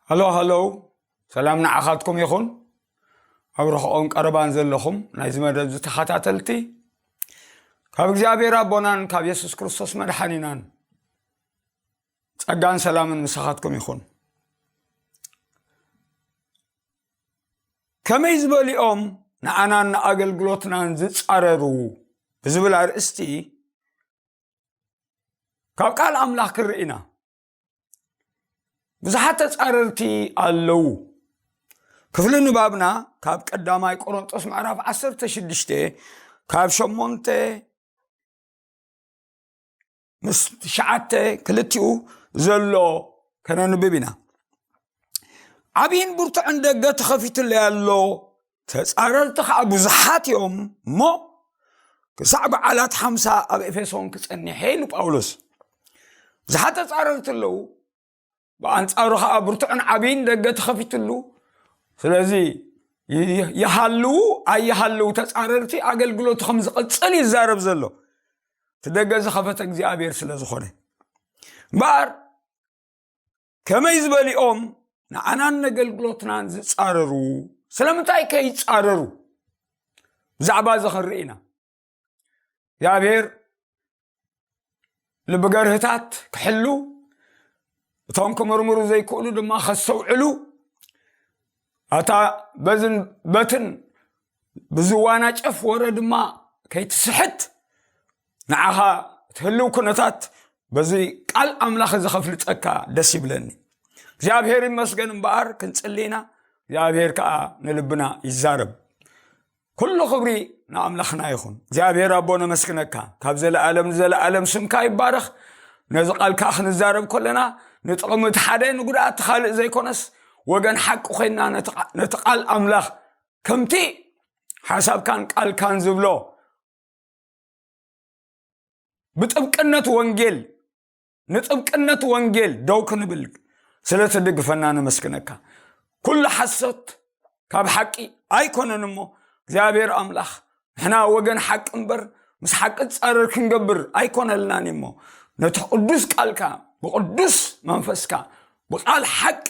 ሃሎ ሃሎ ሰላም ንዓኻትኩም ይኹን ኣብ ርሕቆን ቀረባን ዘለኹም ናይዚ መደብ ዝተኸታተልቲ ካብ እግዚኣብሔር ኣቦናን ካብ የሱስ ክርስቶስ መድሓኒናን ጸጋን ሰላምን ምሳኻትኩም ይኹን ከመይ ዝበሊኦም ንኣናን ንኣገልግሎትናን ዝጻረሩ ብዝብል ኣርእስቲ ካብ ቃል ኣምላኽ ክንርኢ ኢና ብዙሓት ተጻረርቲ ኣለዉ ክፍሊ ንባብና ካብ ቀዳማይ ቆሮንጦስ ምዕራፍ 16 ካብ ሸሞንተ ምስ ትሽዓተ ክልቲኡ ዘሎ ከነንብብ ኢና ዓብይን ብርቱዕን ደገ ተኸፊቱለይ ኣሎ ተፃረርቲ ከዓ ብዙሓት እዮም እሞ ክሳዕ በዓላት ሓምሳ ኣብ ኤፌሶን ክፀኒሐ ኢሉ ጳውሎስ ብዙሓት ተፃረርቲ ኣለዉ ብኣንጻሩ ከዓ ብርቱዕን ዓብይን ደገ ተኸፊትሉ ስለዚ ይሃልዉ ኣይሃልዉ ተፃረርቲ ኣገልግሎቱ ከም ዝቐፅል ይዛረብ ዘሎ እቲ ደገ ዝኸፈተ እግዚኣብሔር ስለ ዝኾነ እምበኣር ከመይ ዝበሊኦም ንዓናን ነገልግሎትናን ዝፃረሩ ስለምንታይ ከ ይፃረሩ ብዛዕባ እዚ ክንርኢ ኢና እግዚኣብሔር ልቢ ገርህታት ክሕሉ እቶም ክምርምሩ ዘይክእሉ ድማ ከስተውዕሉ ኣታ በዝን በትን ብዝዋና ጨፍ ወረ ድማ ከይትስሕት ንዓኻ ትህልው ኩነታት በዚ ቃል ኣምላኽ እዚ ከፍልጠካ ደስ ይብለኒ እግዚኣብሔር ይመስገን እምበኣር ክንፅሊና እግዚኣብሔር ከዓ ንልብና ይዛረብ ኩሉ ክብሪ ንኣምላኽና ይኹን እግዚኣብሔር ኣቦ ነመስግነካ ካብ ዘለኣለም ንዘለኣለም ስምካ ይባረኽ ነዚ ቃል ከዓ ክንዛረብ ከለና ንጥቕሚ እቲ ሓደ ንጉድኣት ካልእ ዘይኮነስ ወገን ሓቂ ኮይና ነቲ ቃል ኣምላኽ ከምቲ ሓሳብካን ቃልካን ዝብሎ ብጥብቅነት ወንጌል ንጥብቅነት ወንጌል ደው ክንብል ስለ ትድግፈና ነመስግነካ ኩሉ ሓሶት ካብ ሓቂ ኣይኮነን እሞ እግዚኣብሔር ኣምላኽ ንሕና ወገን ሓቂ እምበር ምስ ሓቂ ፃረር ክንገብር ኣይኮነልናን እሞ ነቲ ቅዱስ ቃልካ ብቅዱስ መንፈስካ ብቃል ሓቂ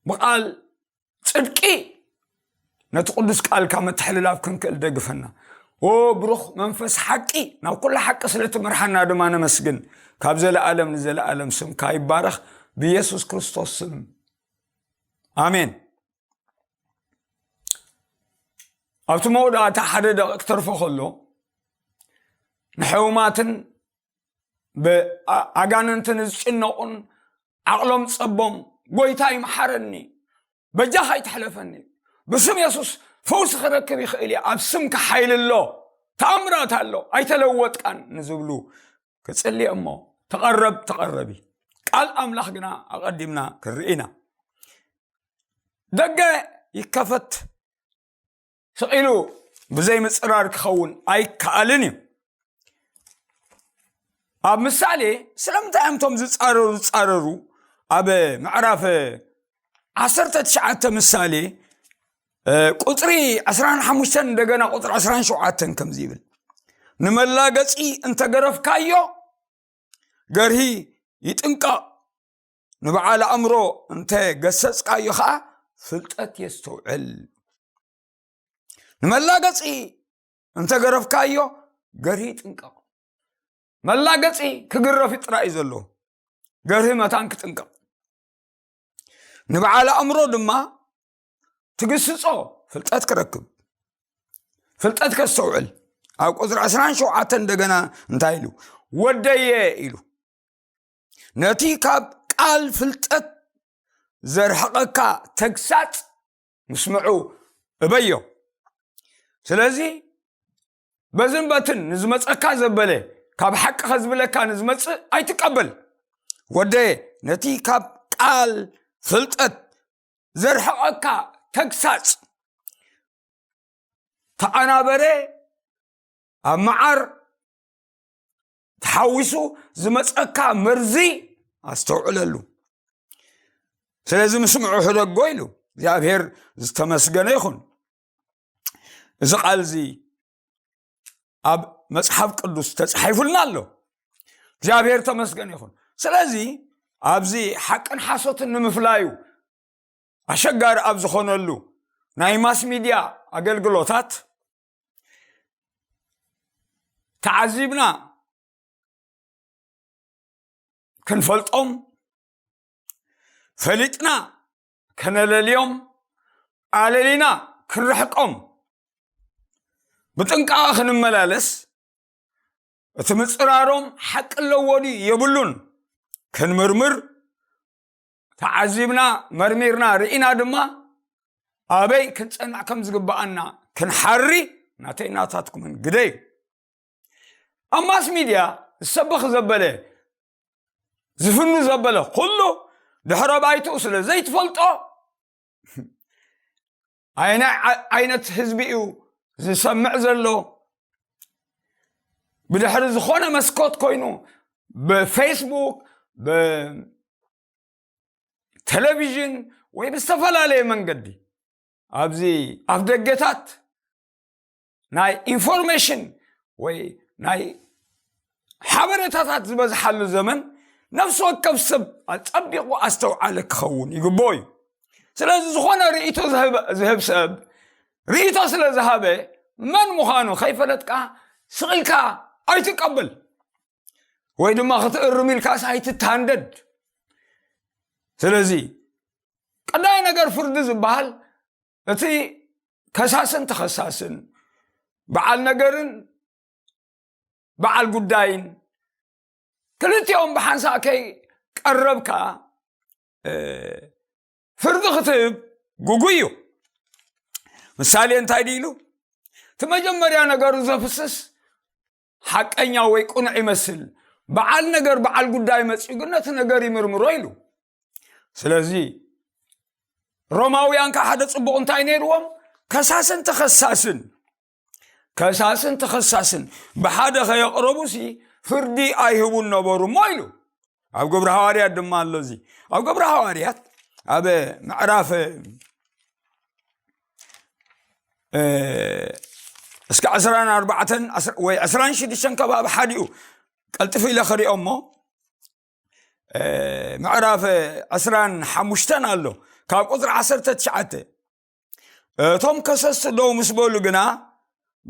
ብቃል ጽድቂ ነቲ ቅዱስ ቃልካ ምትሕልላፍ ክንክእል ደግፈና ኦ ብሩኽ መንፈስ ሓቂ ናብ ኩሉ ሓቂ ስለ ትምርሓና ድማ ነመስግን ካብ ዘለኣለም ንዘለኣለም ስምካ ይባረኽ ብየሱስ ክርስቶስ ስም ኣሜን ኣብቲ መወዳእታ ሓደ ደቂ ክተርፎ ከሎ ንሕውማትን ብኣጋንንቲ ንዝጭነቑን ዓቕሎም ጸቦም ጎይታ ይምሓረኒ በጃኻ ይትሕለፈኒ ብስም የሱስ ፈውሲ ክረክብ ይኽእል እየ ኣብ ስምካ ሓይሊ ኣሎ ተኣምራት ኣሎ ኣይተለወጥቃን ንዝብሉ ክጽልየ እሞ ተቐረብ ተቐረቢ ቃል ኣምላኽ ግና ኣቐዲምና ክንርኢና ደገ ይከፈት ስቕ ኢሉ ብዘይምፅራር ክኸውን ኣይከኣልን እዩ ኣብ ምሳሌ ስለምንታይ እዮም እቶም ዝፃረሩ ዝፃረሩ ኣብ ምዕራፍ ዓሰርተ ትሽዓተ ምሳሌ ቁፅሪ 25 እንደገና ቁፅሪ 27 ከምዚ ይብል ንመላገፂ እንተገረፍካዮ ገርሂ ይጥንቀቕ ንበዓል ኣእምሮ እንተ ገሰጽካዮ ኸዓ ፍልጠት የስተውዕል ንመላገፂ እንተ ገረፍካዮ ገርሂ ይጥንቀቕ መላገፂ ክግረፍ ጥራይ እዩ ዘለዎ ገርሂ መታን ክጥንቀቕ ንበዓል ኣእምሮ ድማ ትግስፆ ፍልጠት ክረክብ ፍልጠት ከስተውዕል ኣብ ቁፅሪ ዕስራን ሸውዓተን እንደገና እንታይ ኢሉ ወደየ ኢሉ ነቲ ካብ ቃል ፍልጠት ዘርሕቐካ ተግሳፅ ምስምዑ እበዮ ስለዚ በዝን በትን ንዝመፀካ ዘበለ ካብ ሓቂ ከዝብለካ ንዝመፅእ ኣይትቀበል ወደ ነቲ ካብ ቃል ፍልጠት ዘርሕቐካ ተግሳፅ ተኣናበረ ኣብ መዓር ተሓዊሱ ዝመፀካ መርዚ ኣስተውዕለሉ ስለዚ ምስምዑ ሕደጎ ኢሉ እግዚኣብሔር ዝተመስገነ ይኹን እዚ ቃል እዚ ኣብ መፅሓፍ ቅዱስ ተፃሒፉልና ኣሎ እግዚኣብሔር ተመስገን ይኹን ስለዚ ኣብዚ ሓቅን ሓሶትን ንምፍላዩ ኣሸጋሪ ኣብ ዝኾነሉ ናይ ማስ ሚድያ ኣገልግሎታት ተዓዚብና ክንፈልጦም ፈሊጥና ከነለልዮም ኣለሊና ክንርሕቆም ብጥንቃቐ ክንመላለስ እቲ ምፅራሮም ሓቂ ኣለዎ ድዩ የብሉን ክንምርምር ተዓዚብና መርሚርና ርኢና ድማ ኣበይ ክንፀንዕ ከም ዝግባኣና ክንሓሪ ናተይ ናታትኩምን ግደ እዩ ኣብ ማስ ሚድያ ዝሰበኽ ዘበለ ዝፍኑ ዘበለ ኩሉ ድሕረ ባይትኡ ስለ ዘይትፈልጦ ኣየናይ ዓይነት ህዝቢ እዩ ዝሰምዕ ዘሎ ብድሕሪ ዝኾነ መስኮት ኮይኑ ብፌስቡክ ብቴሌቪዥን ወይ ብዝተፈላለየ መንገዲ ኣብዚ ኣፍ ደገታት ናይ ኢንፎርሜሽን ወይ ናይ ሓበሬታታት ዝበዝሓሉ ዘመን ነፍሲ ወከፍ ሰብ ኣፀቢቑ ኣስተውዓለ ክኸውን ይግብኦ እዩ ስለዚ ዝኾነ ርእቶ ዝህብ ሰብ ርእቶ ስለ ዝሃበ መን ምዃኑ ከይፈለጥካ ስቕኢልካ ኣይትቀበል ወይ ድማ ክትእርም ኢልካስ ኣይትታንደድ ስለዚ ቀዳይ ነገር ፍርዲ ዝበሃል እቲ ከሳስን ተኸሳስን በዓል ነገርን በዓል ጉዳይን ክልቲኦም ብሓንሳእ ከይ ቀረብካ ፍርዲ ክትህብ ጉጉይ እዩ ምሳሌ እንታይ ድኢሉ እቲ መጀመርያ ነገሩ ዘፍስስ ሓቀኛ ወይ ቁኑዕ ይመስል በዓል ነገር በዓል ጉዳይ መፅኡ ግን ነቲ ነገር ይምርምሮ ኢሉ ስለዚ ሮማውያን ከዓ ሓደ ፅቡቕ እንታይ ነይርዎም ከሳስን ተኸሳስን ከሳስን ተኸሳስን ብሓደ ከየቕረቡሲ ፍርዲ ኣይህቡን ነበሩ እሞ ኢሉ ኣብ ግብሪ ሃዋርያት ድማ ኣሎ እዚ ኣብ ግብሪ ሃዋርያት ኣብ ምዕራፍ እስከ ዕስራን ኣርባዕተን ወይ ዕስራን ሽዱሽተን ከባቢ ሓዲኡ ቀልጥፊ ኢለ ክሪኦ እሞ ምዕራፍ ዕስራን ሓሙሽተን ኣሎ ካብ ቁፅሪ ዓሰርተ ትሽዓተ እቶም ከሰስቲ ደው ምስ በሉ ግና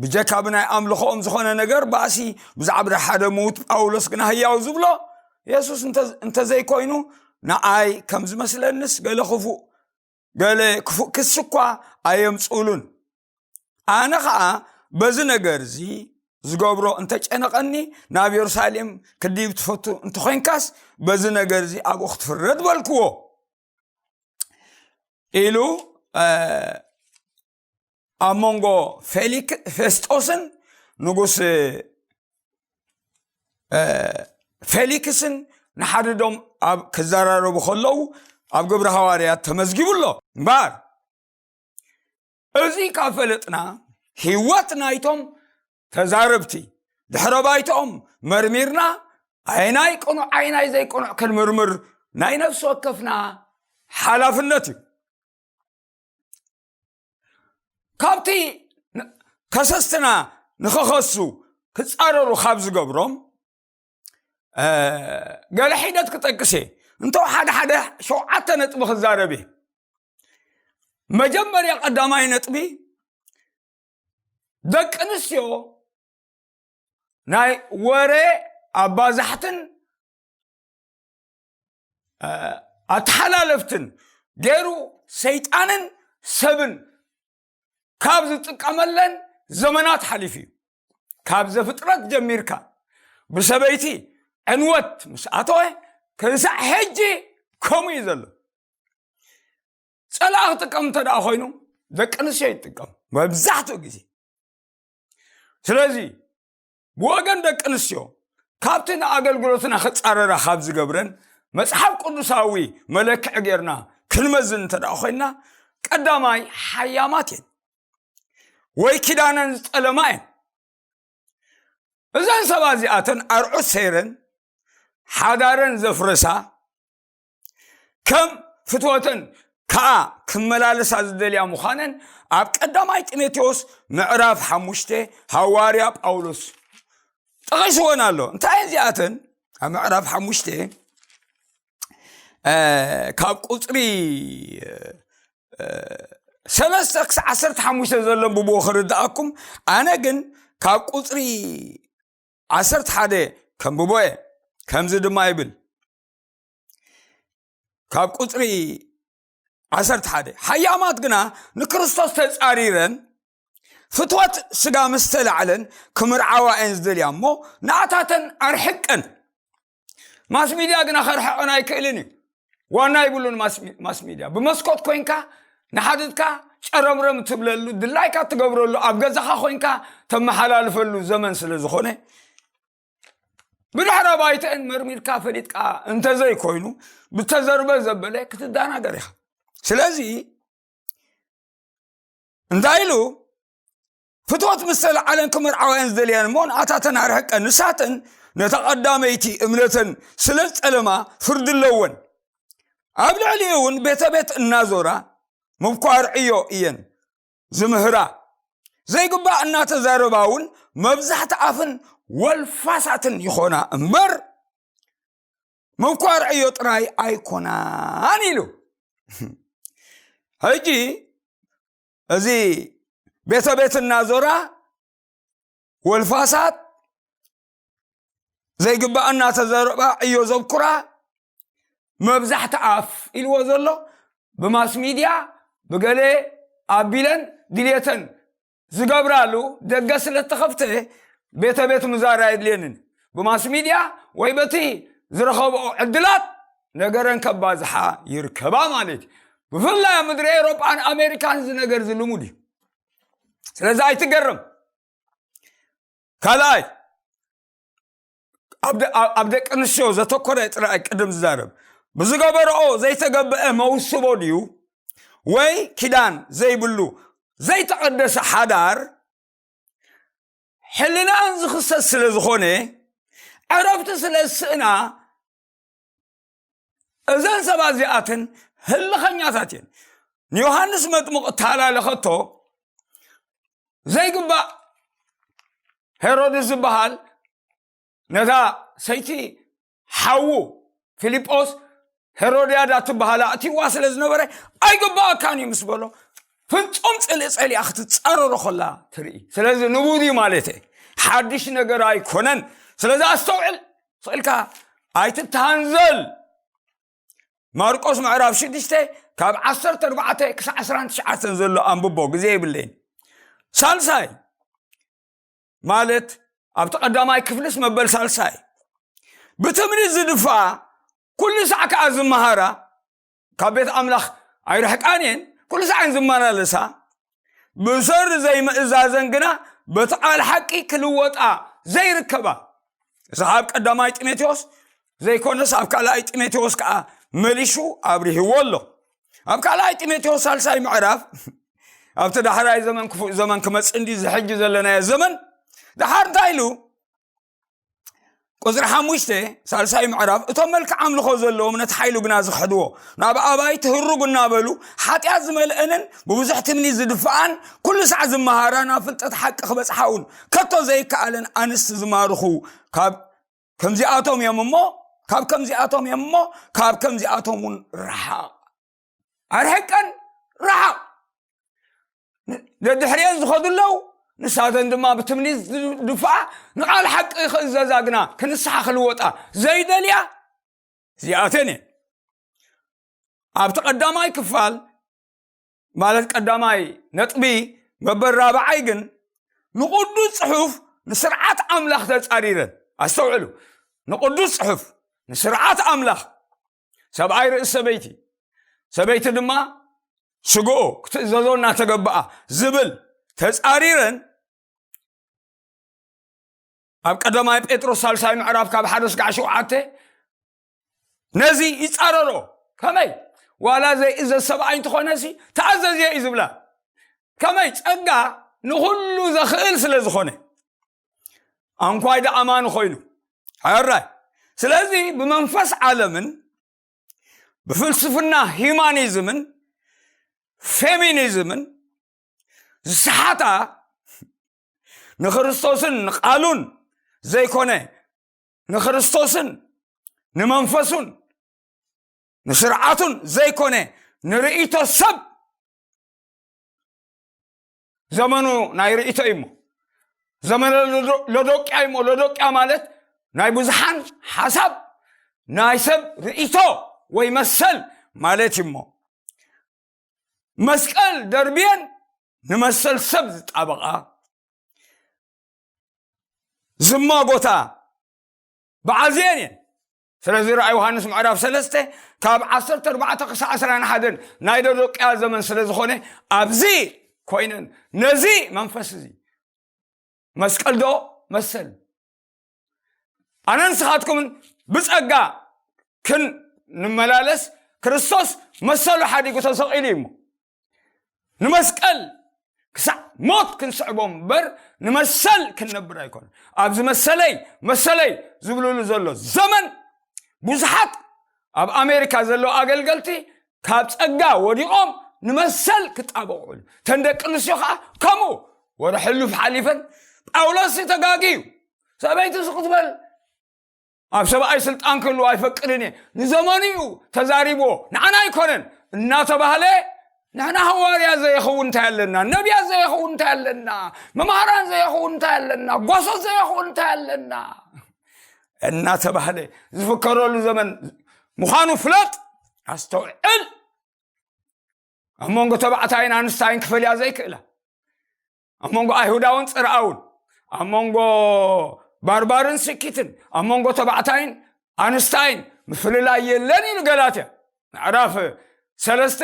ብጀካ ብናይ ኣምልኾኦም ዝኾነ ነገር ባእሲ ብዛዕባ ሓደ ምዉት ጳውሎስ ግና ህያው ዝብሎ የሱስ እንተዘይኮይኑ ንኣይ ከም ዝመስለንስ ገለ ክፉእ ገለ ክፉእ ክሲ እኳ ኣየምፅእሉን ኣነ ከዓ በዚ ነገር እዚ ዝገብሮ እንተጨነቐኒ ናብ የሩሳሌም ክድይብ ትፈቱ እንተኮይንካስ በዚ ነገር እዚ ኣብኡ ክትፍረድ በልክዎ ኢሉ ኣብ መንጎ ፌሊክ ፌስጦስን ንጉስ ፌሊክስን ንሓድዶም ኣብ ክዘራረቡ ከለዉ ኣብ ግብሪ ሃዋርያት ተመዝጊቡ ኣሎ እምበር እዚ ካብ ፈለጥና ህይወት ናይቶም ተዛረብቲ ድሕረ ባይትኦም መርሚርና ኣይናይ ቅኑዕ ኣይናይ ዘይቅኑዕ ክንምርምር ናይ ነፍሲ ወከፍና ሓላፍነት እዩ ካብቲ ከሰስትና ንኸኸሱ ክፃረሩ ካብ ዝገብሮም ገለ ሒደት ክጠቅስ እየ እንተ ሓደ ሓደ ሸውዓተ ነጥቢ ክዛረብ እየ መጀመርያ ቀዳማይ ነጥቢ ደቂ ኣንስትዮ ናይ ወረ ኣባዛሕትን ኣተሓላለፍትን ገይሩ ሰይጣንን ሰብን ካብ ዝጥቀመለን ዘመናት ሓሊፉ እዩ ካብ ዘፍጥረት ጀሚርካ ብሰበይቲ ዕንወት ምስ ኣተወ ክንሳዕ ሕጂ ከምኡ እዩ ዘሎ ፀላእ ክጥቀም እንተ ደኣ ኮይኑ ደቂ ኣንስትዮ ይጥቀም መብዛሕትኡ ግዜ ስለዚ ብወገን ደቂ ኣንስትዮ ካብቲ ንኣገልግሎትና ክጻረራ ካብ ዝገብረን መጽሓፍ ቅዱሳዊ መለክዒ ጌርና ክንመዝን እንተ ደኣ ኮይንና ቀዳማይ ሓያማት እየን ወይ ኪዳነን ዝጠለማ እየን እዘን ሰባ እዚኣተን ኣርዑት ሰይረን ሓዳረን ዘፍረሳ ከም ፍትወተን ከዓ ክመላለሳ ዝደልያ ምዃነን ኣብ ቀዳማይ ጢሞቴዎስ ምዕራፍ ሓሙሽተ ሃዋርያ ጳውሎስ ጠቒስዎን ኣሎ እንታይ እዚኣተን ኣብ ምዕራፍ ሓሙሽተ ካብ ቁፅሪ ሰለስተ ክሳዕ ዓሰርተ ሓሙሽተ ዘሎ ብብኡ ክርድኣኩም ኣነ ግን ካብ ቁፅሪ ዓሰርተ ሓደ ከምብቦ እየ ከምዚ ድማ ይብል ካብ ቁፅሪ ዓሰርተ ሓደ ሓያማት ግና ንክርስቶስ ተፃሪረን ፍትወት ስጋ ምስ ተላዕለን ክምርዓዋ እየን ዝደልያ እሞ ንኣታተን ኣርሕቀን ማስ ሚድያ ግና ከርሕቀን ኣይክእልን እዩ ዋና ይብሉን ማስ ሚድያ ብመስኮት ኮንካ ንሓድትካ ጨረምረም ትብለሉ ድላይካ ትገብረሉ ኣብ ገዛኻ ኮንካ ተመሓላልፈሉ ዘመን ስለ ዝኾነ ብድሕረ ባይተን መርሚርካ ፈሊጥካ እንተዘይኮይኑ ብተዘርበ ዘበለ ክትደናገር ኢኻ ስለዚ እንታይ ኢሉ ፍትወት ምስ ተለዓለን ክምርዓውያን ዝደልያን እሞ ንኣታተን ኣርሕቀን ንሳተን ነታ ቀዳመይቲ እምነተን ስለ ዝጠለማ ፍርዲ ኣለወን ኣብ ልዕሊ እውን ቤተ ቤት እናዞራ ምኳር ዕዮ እየን ዝምህራ ዘይግባእ እናተዛረባ እውን መብዛሕቲ ኣፍን ወልፋሳትን ይኾና እምበር ምኳር ዕዮ ጥራይ ኣይኮናን ኢሉ ሕጂ እዚ ቤተ ቤት እናዞራ ወልፋሳት ዘይግባእ እናተዘረባ ዕዮ ዘኩራ መብዛሕቲ ኣፍ ኢልዎ ዘሎ ብማስ ሚድያ ብገለ ኣቢለን ድልየተን ዝገብራሉ ደገ ስለ ተኸፍተ ቤተ ቤት ምዛር ኣየድልየንን ብማስ ሚድያ ወይ በቲ ዝረኸብኦ ዕድላት ነገረን ከባዝሓ ይርከባ ማለት እዩ ብፍላይ ኣብ ምድሪ ኤሮጳን ኣሜሪካን እዚ ነገር እዚ ልሙድ እዩ ስለዚ ኣይትገርም ካልኣይ ኣብ ደቂ ኣንስትዮ ዘተኮረ ጥራይ ቅድም ዝዛረብ ብዝገበረኦ ዘይተገበአ መውስቦ ድዩ ወይ ኪዳን ዘይብሉ ዘይተቐደሰ ሓዳር ሕልናን ዝኽሰት ስለ ዝኾነ ዕረፍቲ ስለ ዝስእና እዘን ሰባት እዚኣትን ህልኸኛታት እየን ንዮሃንስ መጥምቕ እተሃላለኸቶ ዘይግባእ ሄሮድስ ዝበሃል ነዛ ሰይቲ ሓዉ ፊልጶስ ሄሮድያዳ ትበሃል ኣእትዋ ስለ ዝነበረ ኣይግባኣካን እዩ ምስ በሎ ፍፁም ፅልኢ ፀሊኣ ክትፃረሮ ከላ ትርኢ ስለዚ ንቡር እዩ ማለት እየ ሓድሽ ነገር ኣይኮነን ስለዚ ኣስተውዕል ኽእልካ ኣይትተሃንዘል ማርቆስ ምዕራፍ ሽዱሽተ ካብ ዓሰርተ ኣርባዕተ ክሳዕ ዕስራን ትሽዓተን ዘሎ ኣንብቦ ግዜ ይብለይን ሳልሳይ ማለት ኣብቲ ቀዳማይ ክፍልስ መበል ሳልሳይ ብትምኒት ዝድፋኣ ኩሉ ሳዕ ከዓ ዝመሃራ ካብ ቤት ኣምላኽ ኣይርሕቃን እየን ኩሉ ሰዓን ዝመላለሳ ብሰሪ ዘይምእዛዘን ግና በቲ ቃል ሓቂ ክልወጣ ዘይርከባ እዚ ካብ ቀዳማይ ጢሞቴዎስ ዘይኮነስ ኣብ ካልኣይ ጢሞቴዎስ ከዓ መሊሹ ኣብርህዎ ኣሎ ኣብ ካልኣይ ጢሞቴዎስ ሳልሳይ ምዕራፍ ኣብቲ ዳሕራይ ዘመን ክፉእ ዘመን ክመፅእ እንዲ ዝሕጂ ዘለናዮ ዘመን ድሓር እንታይ ኢሉ ቁፅሪ ሓሙሽተ ሳልሳይ ምዕራፍ እቶም መልክዕ ኣምልኾ ዘለዎም ነቲ ሓይሉ ግና ዝኸሕድዎ ናብ ኣባይ ትህርጉ እናበሉ ሓጢኣት ዝመልአንን ብብዙሕ ትምኒ ዝድፍኣን ኩሉ ሳዕ ዝመሃራ ናብ ፍልጠት ሓቂ ክበፅሓ እውን ከቶ ዘይከኣለን ኣንስቲ ዝማርኹ ካብ ከምዚኣቶም እዮም እሞ ካብ ከምዚኣቶም እዮም እሞ ካብ ከምዚኣቶም እውን ረሓቕ ኣርሕቀን ረሓቕ ደድሕሪኤን ዝኸዱ ኣለዉ ንሳተን ድማ ብትምኒት ዝድፍኣ ንቓል ሓቂ ክእዘዛ ግና ክንስሓ ክልወጣ ዘይደልያ እዚኣተን እየ ኣብቲ ቀዳማይ ክፋል ማለት ቀዳማይ ነጥቢ መበል ራብዓይ ግን ንቕዱስ ፅሑፍ ንስርዓት ኣምላኽ ተፃሪረን ኣስተውዕሉ ንቕዱስ ፅሑፍ ንስርዓት ኣምላኽ ሰብኣይ ርእሲ ሰበይቲ ሰበይቲ ድማ ስግኦ ክትእዘዞ እናተገባኣ ዝብል ተፃሪረን ኣብ ቀዳማይ ጴጥሮስ ሳልሳይ ምዕራፍ ካብ ሓደ ስጋዕ ሸውዓተ ነዚ ይፃረሮ ከመይ ዋላ ዘይእዘዝ ሰብኣይ እንትኾነ ሲ ተኣዘዝየ እዩ ዝብላ ከመይ ፀጋ ንኩሉ ዘኽእል ስለ ዝኾነ ኣንኳይ ዶ ኣማኒ ኮይኑ ሕራይ ስለዚ ብመንፈስ ዓለምን ብፍልስፍና ሂማኒዝምን ፌሚኒዝምን ዝሰሓታ ንክርስቶስን ንቃሉን ዘይኮነ ንክርስቶስን ንመንፈሱን ንስርዓቱን ዘይኮነ ንርእይቶ ሰብ ዘመኑ ናይ ርእቶ እዩ እሞ ዘመነ ሎዶቅያ እዩ እሞ ሎዶቅያ ማለት ናይ ብዙሓን ሓሳብ ናይ ሰብ ርእቶ ወይ መሰል ማለት እዩ እሞ መስቀል ደርብየን ንመሰል ሰብ ዝጣበቓ ዝማጎታ በዓል ዜን እየን ስለዚ ራእይ ዮሃንስ ምዕራፍ ሰለስተ ካብ ዓሰርተ ኣርባዕተ ክሳዕ ዕስራን ሓደን ናይ ደዶቅያ ዘመን ስለ ዝኾነ ኣብዚ ኮይነን ነዚ መንፈስ እዚ መስቀል ዶ መሰል ኣነ ንስኻትኩምን ብፀጋ ክንመላለስ ክርስቶስ መሰሉ ሓዲጉ ተሰቂሉ እዩ እሞ ንመስቀል ክሳዕ ሞት ክንስዕቦ እምበር ንመሰል ክንነብር ኣይኮነ ኣብዚ መሰለይ መሰለይ ዝብልሉ ዘሎ ዘመን ብዙሓት ኣብ ኣሜሪካ ዘለዉ ኣገልገልቲ ካብ ፀጋ ወዲቖም ንመሰል ክጣበቑሉ ተን ደቂ ኣንስትዮ ከዓ ከምኡ ወደ ሕሉፍ ሓሊፈን ጳውሎስ ተጋግዩ ሰበይቲ ስክትበል ኣብ ሰብኣይ ስልጣን ክህልዎ ኣይፈቅድን እየ ንዘመኑ እዩ ተዛሪብዎ ንዓና ኣይኮነን እናተባህለ ንሕና ሃዋርያ ዘየኸውን እንታይ ኣለና ነቢያት ዘየኸውን እንታይ ኣለና መምሃራን ዘየኸውን እንታይ ኣለና ጓሶት ዘየኸውን እንታይ ኣለና እናተባህለ ዝፍከረሉ ዘመን ምዃኑ ፍለጥ ኣስተውዕል ኣብ መንጎ ተባዕታይን ኣንስታይን ክፈልያ ዘይክእላ ኣብ መንጎ ኣይሁዳውን ፅርኣውን ኣብ መንጎ ባርባርን ስኪትን ኣብ መንጎ ተባዕታይን ኣንስታይን ምፍልላይ የለን ኢሉ ገላትያ ምዕራፍ ሰለስተ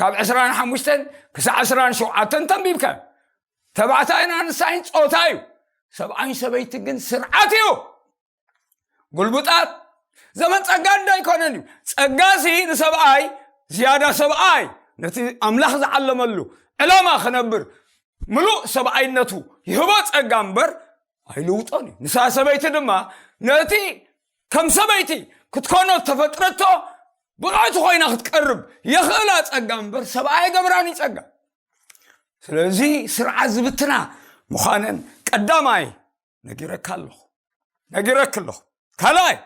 ካብ ዕስራን ሓሙሽተን ክሳዕ ዕስራን ሸውዓተን ተንቢብካ ተባዕታይን ኣንስታይን ፆታ እዩ ሰብኣይን ሰበይቲ ግን ስርዓት እዩ ጉልቡጣት ዘመን ጸጋ እንዶ ኣይኮነን እዩ ጸጋ ሲ ንሰብኣይ ዝያዳ ሰብኣይ ነቲ ኣምላኽ ዝዓለመሉ ዕላማ ክነብር ምሉእ ሰብኣይነቱ ይህቦ ጸጋ እምበር ኣይልውጦን እዩ ንሳ ሰበይቲ ድማ ነቲ ከም ሰበይቲ ክትኮኖ ዝተፈጥረቶ ብቕዕቲ ኮይና ክትቀርብ የኽእላ ጸጋ እምበር ሰብኣይ ገብራን እዩ ጸጋ ስለዚ ስርዓት ዝብትና ምዃነን ቀዳማይ ነጊረካ ኣለኹ ነጊረክ ኣለኹ ካልኣይ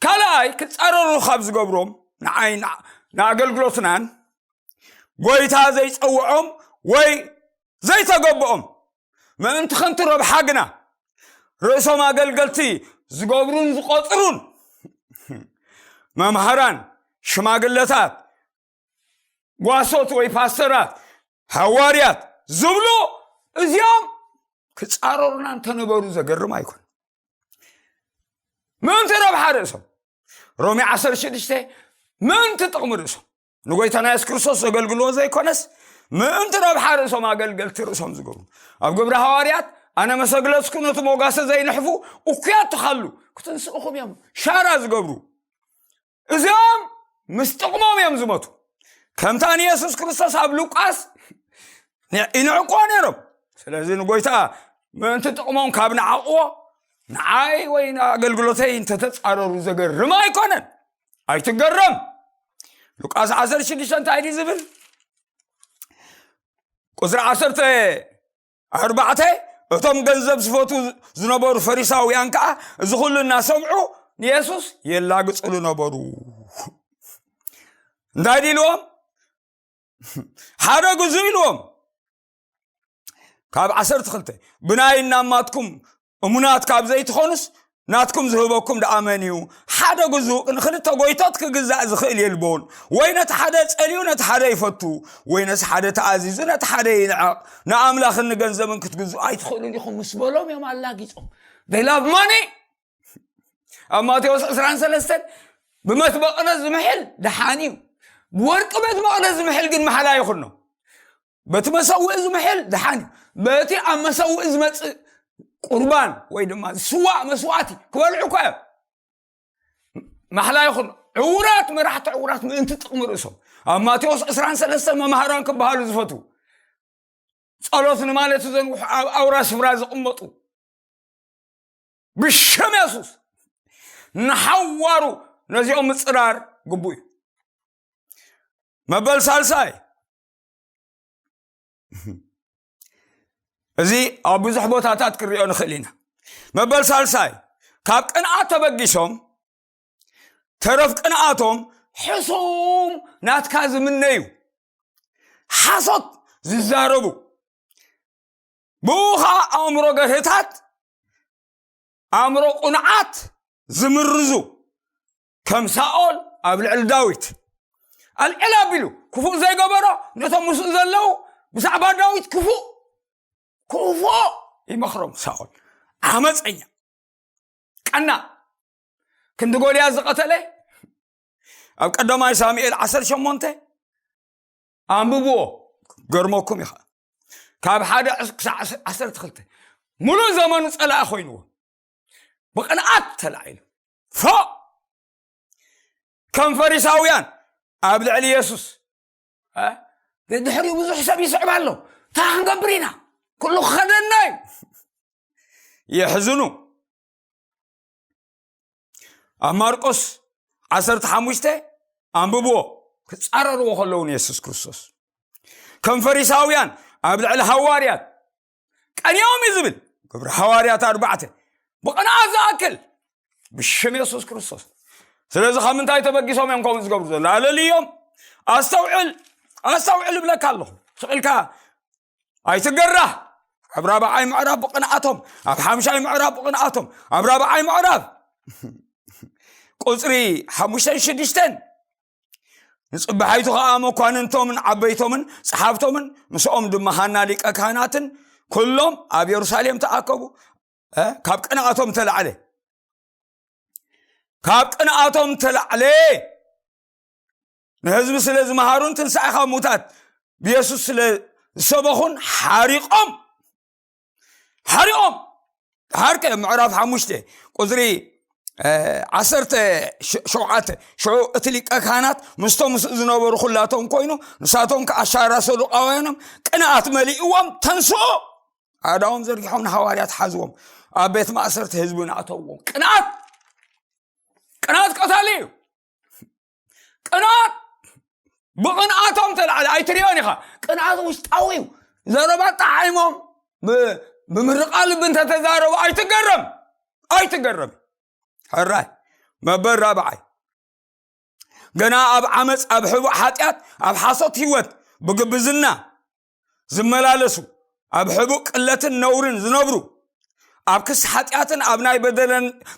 ካልኣይ ክፃረሩ ካብ ዝገብሮም ንዓይ ንኣገልግሎትናን ጎይታ ዘይፀውዖም ወይ ዘይተገብኦም ምእንቲ ከንቲ ረብሓ ግና ርእሶም ኣገልገልቲ ዝገብሩን ዝቆፅሩን መምሃራን ሽማግለታት ጓሶት ወይ ፓስተራት ሃዋርያት ዝብሉ እዚኦም ክፃረሩና እንተነበሩ ዘገርም ኣይኮን ምእንቲ ረብሓ ርእሶም ሮሜ 16 ምእንቲ ጥቕሚ ርእሶም ንጎይታና የሱስ ክርስቶስ ዘገልግልዎ ዘይኮነስ ምእንቲ ረብሓ ርእሶም ኣገልገልቲ ርእሶም ዝገብሩ ኣብ ግብሪ ሃዋርያት ኣነ መሰግለጽኩ ነቲ ሞጋሰ ዘይንሕፉ እኩያት ትኻሉ ክትንስእኹም እዮም ሻራ ዝገብሩ እዚኦም ምስ ጥቕሞም እዮም ዝመቱ ከምታ ንየሱስ ክርስቶስ ኣብ ሉቃስ ይንዕቆ ነይሮም ስለዚ ንጎይታ ምእንቲ ጥቕሞም ካብ ንዓቕዎ ንዓይ ወይ ንኣገልግሎተይ እንተተፃረሩ ዘገርም ኣይኮነን ኣይትገረም ሉቃስ 16 እንታይ ድዩ ዝብል ቁፅሪ ዓሰርተ ኣርባዕተ እቶም ገንዘብ ዝፈቱ ዝነበሩ ፈሪሳውያን ከዓ እዚ ኩሉ እናሰምዑ ንየሱስ የላግፅሉ ነበሩ እንታይ ድኢልዎም ሓደ ግዙ ኢልዎም ካብ ዓሰርተ ክልተ ብናይ እናማትኩም እሙናት ካብ ዘይትኾኑስ ናትኩም ዝህበኩም ደኣ መን እዩ ሓደ ግዙእ ንክልተ ጎይቶት ክግዛእ ዝኽእል የልቦን ወይ ነቲ ሓደ ጸልዩ ነቲ ሓደ ይፈቱ ወይ ነቲ ሓደ ተኣዚዙ ነቲ ሓደ ይንዕቕ ንኣምላኽን ንገንዘብን ክትግዝኡ ኣይትኽእሉን ኢኹም ምስ በሎም እዮም ኣላጊጾም ደይላብ ማኒ ኣብ ማቴዎስ 23 ብመት መቕደስ ዝምሕል ደሓን እዩ ብወርቂ ቤት መቕደስ ዝምሕል ግን መሓላ ይኹኖ በቲ መሰውኢ ዝምሕል ድሓን እዩ በቲ ኣብ መሰውኢ ዝመፅእ ቁርባን ወይ ድማ ዝስዋእ መስዋእቲ ክበልዑ እኳ እዮም ማሕላ ይኹን ዕውራት መራሕቲ ዕውራት ምእንቲ ጥቕሚ ርእሶም ኣብ ማቴዎስ 23 መማህራን ክበሃሉ ዝፈቱ ጸሎት ንማለት ዘንውሑ ኣብ ኣውራ ስፍራ ዝቕመጡ ብሸም የሱስ ንሓዋሩ ነዚኦም ምፅራር ግቡእ እዩ መበል ሳልሳይ እዚ ኣብ ብዙሕ ቦታታት ክንሪኦ ንኽእል ኢና መበል ሳልሳይ ካብ ቅንኣት ተበጊሶም ተረፍ ቅንኣቶም ሕሱም ናትካ ዝምነዩ ሓሶት ዝዛረቡ ብኡ ከዓ ኣእምሮ ገርህታት ኣእምሮ ቁንዓት ዝምርዙ ከም ሳኦል ኣብ ልዕሊ ዳዊት ኣልዕል ኣቢሉ ክፉእ ዘይገበሮ ነቶም ምስኡ ዘለዉ ብዛዕባ ዳዊት ክፉእ ክፉኦ ይመኽሮም ሳኦል ዓመፀኛ ቀና ክንዲ ጎልያ ዝቐተለ ኣብ ቀዳማይ ሳሙኤል 18 ኣንብብዎ ገርመኩም ይኸ ካብ ሓደ ክሳዕ ዓሰርተ ክልተ ሙሉእ ዘመኑ ፀላኢ ኮይንዎ ብቕንኣት ተላዒሉ ፎእ ከም ፈሪሳውያን ኣብ ልዕሊ የሱስ እ? ድሕሪኡ ብዙሕ ሰብ ይስዕብ ኣሎ እንታይ ክንገብር ኢና ኩሉ ክኸደና እዩ የሕዝኑ ኣብ ማርቆስ 15 ኣንብብዎ ክፃረርዎ ከለውን የሱስ ክርስቶስ ከም ፈሪሳውያን ኣብ ልዕሊ ሃዋርያት ቀንዮም እዩ ዝብል ግብሪ ሃዋርያት ኣርባዕተ ብቕንዓት ዝኣክል ብሽም የሱስ ክርስቶስ ስለዚ ካብ ምንታይ ተበጊሶም እዮም ከምኡ ዝገብሩ ዘሎ ኣለልዮም ኣስተውዕል ኣስተውዕል እብለካ ኣለኹ ስቕልካ ኣይትገራ ኣብ ራብዓይ ምዕራብ ብቕንኣቶም ኣብ ሓምሻይ ምዕራብ ብቕንኣቶም ኣብ ራብዓይ ምዕራብ ቁፅሪ ሓሙሽተን ሽዱሽተን ንፅባሒቱ ከዓ መኳንንቶምን ዓበይቶምን ፀሓፍቶምን ምስኦም ድማ ሃና ሊቀ ካህናትን ኩሎም ኣብ የሩሳሌም ተኣከቡ ካብ ቅንኣቶም ተላዕለ ካብ ቅንኣቶም ተላዕለ ንህዝቢ ስለ ዝመሃሩን ትንሳኤ ካብ ሙታት ብየሱስ ስለ ዝሰበኹን ሓሪቆም ሓሪኦም ድሓርከ ምዕራፍ ሓሙሽተ ቁፅሪ ዓሰርተ ሸውዓተ ሽዑ እቲ ሊቀ ካህናት ምስቶም ምስኡ ዝነበሩ ኩላቶም ኮይኑ ንሳቶም ከዓ ኣሻራ ሰዱቃውያኖም ቅንኣት መሊእዎም ተንስኦ ኣዳዎም ዘርጊሖም ንሃዋርያት ሓዝዎም ኣብ ቤት ማእሰርቲ ህዝቢ ንኣተዎም ቅንኣት ቅንኣት ቀታሊ እዩ ቅንኣት ብቕንኣቶም ተላዕለ ኣይትሪኦን ኢኻ ቅንኣት ውሽጣዊ እዩ ዘረባ ጣዓይሞም ብምርቃ ልቢ እንተተዛረቡ ኣይትገረም ኣይትገረም ሕራይ መበል ራብዓይ ገና ኣብ ዓመፅ ኣብ ሕቡእ ሓጢኣት ኣብ ሓሶት ህይወት ብግብዝና ዝመላለሱ ኣብ ሕቡእ ቅለትን ነውርን ዝነብሩ ኣብ ክሲ ሓጢኣትን ኣብ ናይ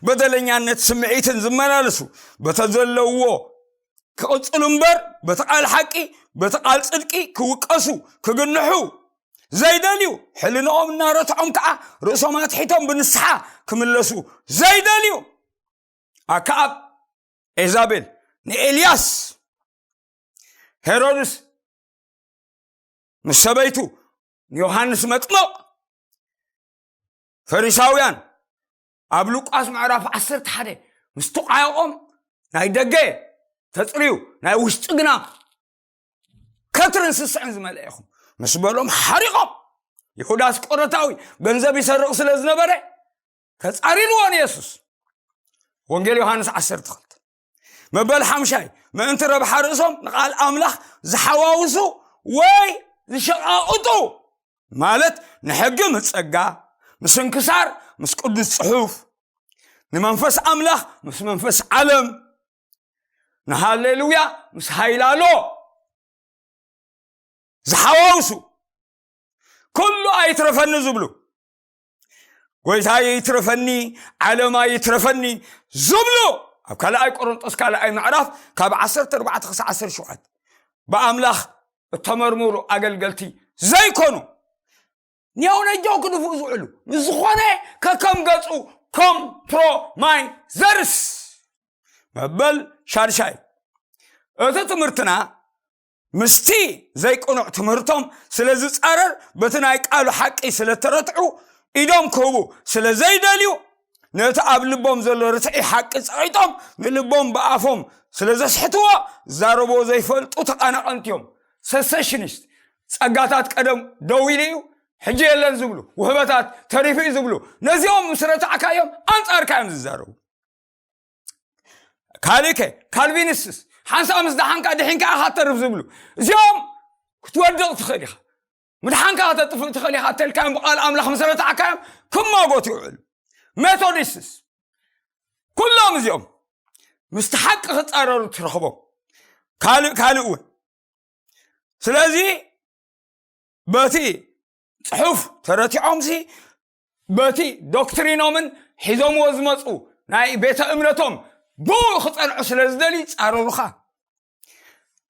በደለኛነት ስምዒትን ዝመላለሱ በተዘለውዎ ክቕፅሉ እምበር በቲ ቃል ሓቂ በቲ ቃል ፅድቂ ክውቀሱ ክግንሑ ዘይደልዩ ሕልንኦም እናረትዖም ከዓ ርእሶም ኣትሒቶም ብንስሓ ክምለሱ ዘይደልዩ ኣከኣብ ኤዛቤል ንኤልያስ ሄሮድስ ምስ ሰበይቱ ንዮሃንስ መጥምቕ ፈሪሳውያን ኣብ ሉቃስ ምዕራፍ ዓሰርተ ሓደ ምስ ተቋየቖም ናይ ደገ ተፅርዩ ናይ ውሽጢ ግና ከትርን ስስዕን ዝመልአ ኢኹም ምስ በሎም ሓሪቖም ይሁዳ ስቆረታዊ ገንዘብ ይሰርቕ ስለ ዝነበረ ተፃሪርዎን የሱስ ወንጌል ዮሃንስ ዓሰርተ ክልተ መበል ሓምሻይ ምእንቲ ረብሓ ርእሶም ንቓል ኣምላኽ ዝሓዋውሱ ወይ ዝሸቓቕጡ ማለት ንሕጊ ምስ ጸጋ ምስ እንክሳር ምስ ቅዱስ ጽሑፍ ንመንፈስ ኣምላኽ ምስ መንፈስ ዓለም ንሃሌሉያ ምስ ሃይላሎ ዝሓዋውሱ ኩሉ ኣይትረፈኒ ዝብሉ ጎይታ ይትረፈኒ ዓለማ ይትረፈኒ ዝብሎ ኣብ ካልኣይ ቆሮንጦስ ካልኣይ ምዕራፍ ካብ 14 ክሳዕ 17 ብኣምላኽ እተመርምሩ ኣገልገልቲ ዘይኮኑ ኒያው ነጃው ክድፍኡ ዝውዕሉ ንዝኾነ ከከም ገጹ ኮምፕሮማይዘርስ መበል ሻድሻይ እቲ ትምህርትና ምስቲ ዘይቅኑዕ ትምህርቶም ስለ ዝጻረር በቲ ናይ ቃሉ ሓቂ ስለ ተረትዑ ኢዶም ክህቡ ስለ ዘይደልዩ ነቲ ኣብ ልቦም ዘሎ ርትዒ ሓቂ ጸቂጦም ንልቦም ብኣፎም ስለ ዘስሕትዎ ዛረቦ ዘይፈልጡ ተቓናቐንቲ እዮም ሰሰሽኒስት ጸጋታት ቀደም ደው ኢሉ እዩ ሕጂ የለን ዝብሉ ውህበታት ተሪፉ እዩ ዝብሉ ነዚኦም ምስ ረታዕካዮም ኣንጻርካ እዮም ዝዛረቡ ካልእከ ካልቪንስትስ ሓንሳብ ምስ ደሓንካ ድሒን ከዓ ካተርፍ ዝብሉ እዚኦም ክትወድቕ ትኽእል ኢኻ ምድሓንካ ከተጥፍእ ትኽእል ኢኻ እተልካዮም ብቓል ኣምላኽ መሰረትዓካዮም ክማጎት ይውዕሉ ሜቶዲስትስ ኩሎም እዚኦም ምስቲ ሓቂ ክፃረሩ ትረኽቦም ካልእ ካልእ እውን ስለዚ በቲ ፅሑፍ ተረቲዖምሲ በቲ ዶክትሪኖምን ሒዞምዎ ዝመፁ ናይ ቤተ እምነቶም ብኡ ክፀንዑ ስለ ዝደልዩ ይፃረሩኻ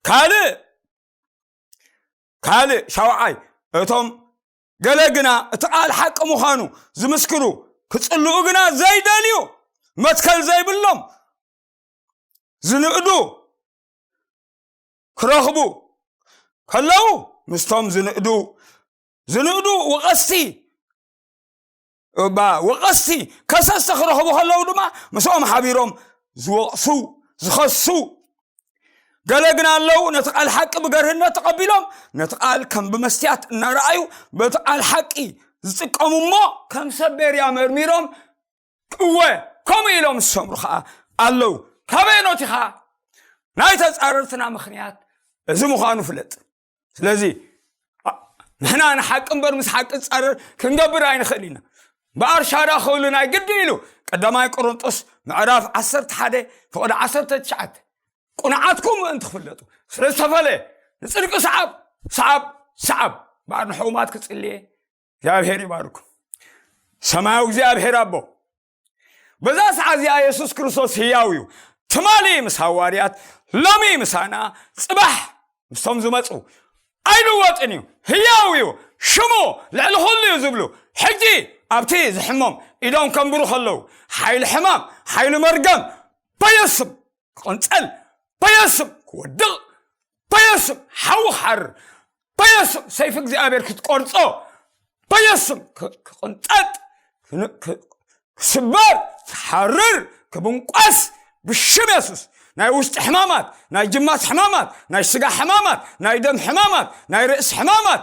ካልእ ካልእ ሻውዓይ እቶም ገለ ግና እቲ ቃል ሓቂ ምዃኑ ዝምስክሩ ክፅልኡ ግና ዘይደልዩ መትከል ዘይብሎም ዝንእዱ ክረኽቡ ከለዉ ምስቶም ዝንእዱ ዝንእዱ ወቐስቲ ወቐስቲ ከሰስቲ ክረኽቡ ከለዉ ድማ ምስኦም ሓቢሮም ዝወቕሱ ዝኸሱ ገለ ግን ኣለዉ ነቲ ቃል ሓቂ ብገርህነት ተቐቢሎም ነቲ ቃል ከም ብመስትያት እናረኣዩ በቲ ቃል ሓቂ ዝጥቀሙ እሞ ከም ሰብ ቤርያ መርሚሮም እወ ከምኡ ኢሎም ዝሰምሩ ከዓ ኣለዉ ካበየኖት ኢኻ ናይ ተፃረርትና ምክንያት እዚ ምዃኑ ፍለጥ ስለዚ ንሕና ንሓቂ እምበር ምስ ሓቂ ፃረር ክንገብር ኣይንኽእል ኢና ብኣርሻዳ ክብሉ ናይ ግዲ ኢሉ ቀዳማይ ቆሮንጦስ ምዕራፍ 11 ፍቕዲ 19 ቁንዓትኩም ምእንቲ ክፍለጡ ስለ ዝተፈለየ ንፅድቂ ሰዓብ ሰዓብ ሰዓብ በዓር ንሕሙማት ክፅልየ እግዚኣብሄር ይባርኩም ሰማያዊ እግዚኣብሄር ኣቦ በዛ ሰዓ እዚኣ የሱስ ክርስቶስ ህያው እዩ ትማሊ ምስ ሃዋርያት ሎሚ ምሳና ፅባሕ ምስቶም ዝመፁ ኣይልወጥን እዩ ህያው እዩ ሽሙ ልዕሊ ኩሉ እዩ ዝብሉ ሕጂ ኣብቲ ዝሕሞም ኢዶም ከንብሩ ከለዉ ሓይሊ ሕማም ሓይሊ መርገም በየስም ክቕንፀል በየስም ክወድቕ በየሱም ሓዊ ክሓርር በየሱም ሰይፊ እግዚኣብሔር ክትቆርፆ በየሱም ክቕንጠጥ ክስበር ክሓርር ክብንቋስ ብሽም የሱስ ናይ ውሽጢ ሕማማት ናይ ጅማት ሕማማት ናይ ስጋ ሕማማት ናይ ደም ሕማማት ናይ ርእሲ ሕማማት